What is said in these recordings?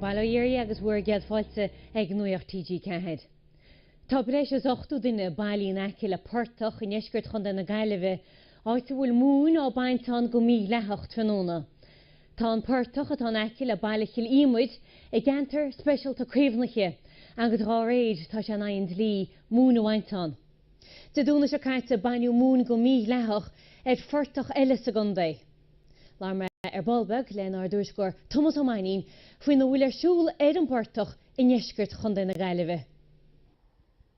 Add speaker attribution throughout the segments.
Speaker 1: Baile Uí Fhearraigh agus bhur gcéad fáilte ag Nuacht TG4. Tá breis is 80 duine bailithe in aice le portach i ndeisceart Chontae na Gaillimhe, áit a bhfuil móin á baint ann go mídhleathach tráthnóna. Tá an portach, atá in aice le baile Chill Íomair, i gceantar speisialta caomhnaithe agus dá réir tá sé in aghaidh an dlí móin a bhaint ann. Dé Domhnaigh seo caite baineadh móin go mídhleathach ar phortach eile sa gcontae. Labhair mé ar ball beag lenár dtuairisceoir Tomás Ó Mainnín faoina bhfuil ar siúl ar an bportach i ndeisceart Chontae na
Speaker 2: Gaillimhe.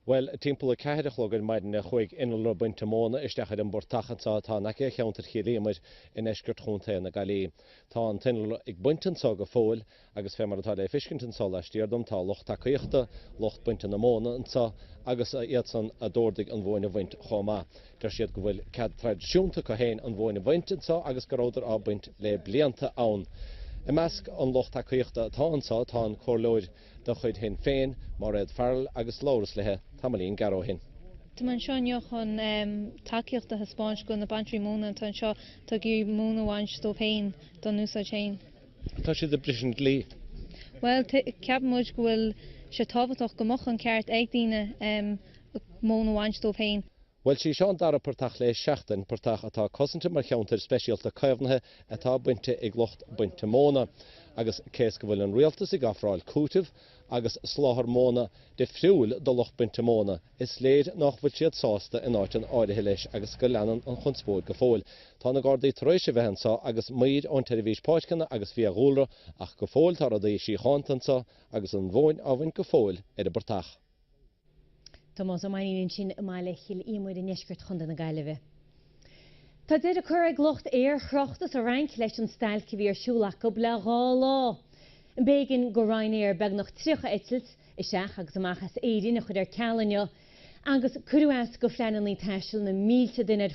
Speaker 2: Bhuel, timpeall a ceathair a chlog ar maidin a chuaigh innealra bainte móna isteach ar an bportach anseo atá in aice cheantar Chill Íomair i ndeisceart Chontae na Gailli. Tá an t-innealra ag baint anseo go fóill agus fé mar atá le feiscint anseo laistiar dom tá lucht tacaíochta lucht bainte na móna anseo agus iadsan a d'órdaigh an mhóin a bhaint chomh maith. Deir siad go bhfuil cead traidisiúnta acu féin an mhóin a bhaint anseo agus go rabhadar á baint le blianta ann. I measc an lucht tacaíochta atá anseo tá an comhairleoir de chuid Shinn Féin, Mairéad Farrell agus labhras léi tamaillín gearr ó shin. Táim anseo inniu
Speaker 3: chun tacaíocht a thaispeáint do na bainteoirí móna atá anseo atá ag iarraidh móin a bhaint dóibh féin dá n-úsáid féin. Tá siad
Speaker 2: ag briseadh an dlí. Bhuel,
Speaker 3: ceapann muid go bhfuil sé tábhachtach go mbeadh an ceart ag daoine móin a bhaint dóibh féin. Bhuel is é seo an
Speaker 2: dara portach le seachtain, portach atá cosanta mar cheantar speisialta caomhnaithe atá bainte ag lucht bainte móna, agus cé is go bhfuil an rialtas ag ofráil cúiteamh agus soláthar móna difriúil do lucht bainte móna, is léir nách bhfuil siad sásta in áiteanna áirithe leis agus go leanann an chonspóid go fóill. Tá na Gardaí tar éis a bheith anseo agus maoir ón tSeirbhís Páirceanna agus Fiadhúlra, ach go fóill tá rudaí síochánta anseo agus an mhóin á baint go fóill ar an bportach.
Speaker 1: Tomás Ó Mainnín ansin i mbaile Chill Íomair i ndeisceart Chontae na Gaillimhe. Tá deireadh á chur ag lucht aerthráchta sa Fhrainc leis an stailc a bhí ar siúl acu le dhá lá. B'éigean go Ryanair beagnach 30 eitilt isteach agus amach as Éirinn a chur ar ceal inniu agus cuireadh as do phleananna taistil na mílte duine ar